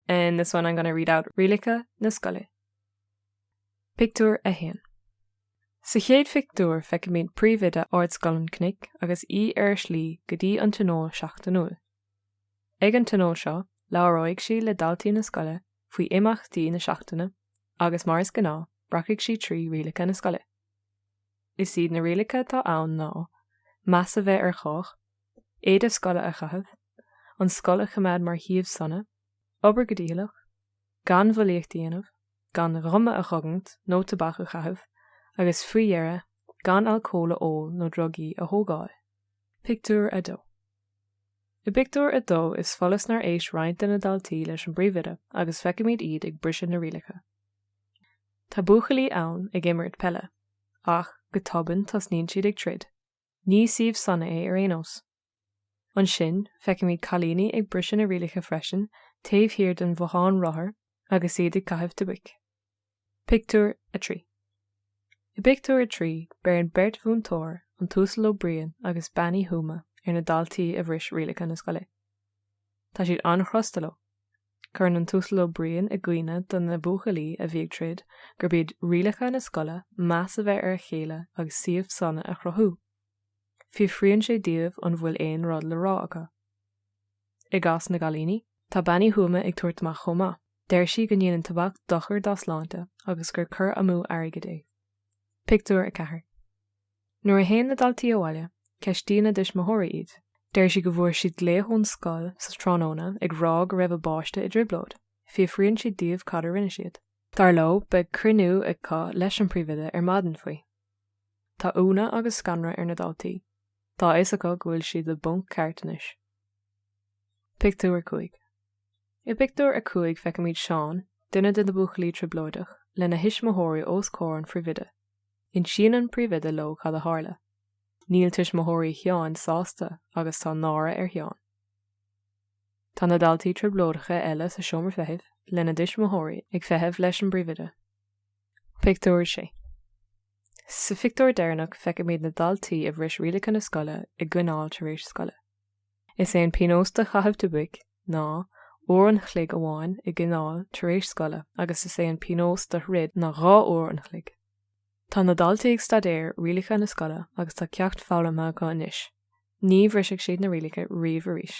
In this one I'm going to read out Rialacha na Scoile. Pictiúr 1. Sa chéad phictiúr feicimid príomhoide Ardscoil an Chnoic agus í ar a slí go dtí an tionól seachtainiúil. Ag an tionól seo labhróidh sí le daltaí na scoile faoi imeachtaí na seachtaine agus mar is gnáth rachfaidh sí trí rialacha na scoile. Is iad na rialacha atá ann ná, meas a bheith ar chách, éide scoile a chaitheamh, an scoil a choimeád mar shuíomh sona, obair go dícheallach, gan bhulaíocht a dhéanamh, gan guma a chogaint nó tobac a chaitheamh agus faoi dheireadh gan alcól a ól nó drugaí a thógáil. Pictiúr 2. I bpictiúr a dó is follas nár éist roinnt de na daltaí leis an bpríomhoide agus feicimid iad ag briseadh na rialacha. Tá buachaillí ann ag imirt peile, ach go tobann tosnaíonn siad ag troid. Ní suíomh sona é ar aon nós. Ansin feicimid cailíní ag briseadh na rialacha freisin taobh thiar den bhothán rothar agus iad ag caitheamh tobac. Pictiúr 3 I bpictiúr a trí, beireann beirt mhúinteoir, an tUasal Ó Briain agus Bean Uí Thuama, ar na daltaí a bhris rialacha na scoile. Tá siad an-chrosta leo. Cuireann an tUasal Ó Briain i gcuimhne do na buachaillí a bhí ag troid gurb iad rialacha na scoile meas a bheith ar a chéile agus suíomh sona a chruthú. Fiafraíonn sé díobh an bhfuil aon rud le rá acu. I gcás na gcailíní, tá Bean Uí Thuama ag tabhairt amach chomh maith. Deir sí go ndéanann tobac dochar dá sláinte agus gur cur amú airgid é. Pictiúr 4 Nuair a théann na daltaí abhaile, ceistíonn a dtuismitheoirí iad. Deir siad go bhfuair siad glaoch ón scoil sa tráthnóna ag rá go raibh a bpáiste i dtrioblóid. Fiafraíonn siad díobh cad a rinne siad. Dar leo, beidh cruinniú acu leis an bpríomhoide ar maidin faoi. Tá ionadh agus scanradh ar na daltaí. Tá a fhios acu go bhfuil siad i bponc ceart anois. Pictiúr 5 I bpictiúr a cúig feicimid Seán, duine de na buachaillí trioblóideach, lena thuismitheoirí os comhair an phríomhoide. Insíonn an príomhoide leo cad a tharla. Níl tuismitheoirí Sheáin sásta agus tá náire ar Sheán. Tá na daltaí trioblóideacha eile sa seomra feithimh lena dtuismitheoirí ag feitheamh leis an bpríomhoide. Pictiúr 6 Sa phictiúr deireanach feicimid na daltaí a bhris rialacha na scoile i gcoinneáil tar éis scoile. Is é an píonós do chaitheamh tobaic ná uair an chloig amháin i gcoinneáil tar éis scoile agus is é an píonós do throid ná dhá uair an chloig. Tá na daltaí ag staidéar rialacha na scoile agus tá ceacht foghlamtha acu anois. Ní bhrisfidh siad na rialacha riamh arís.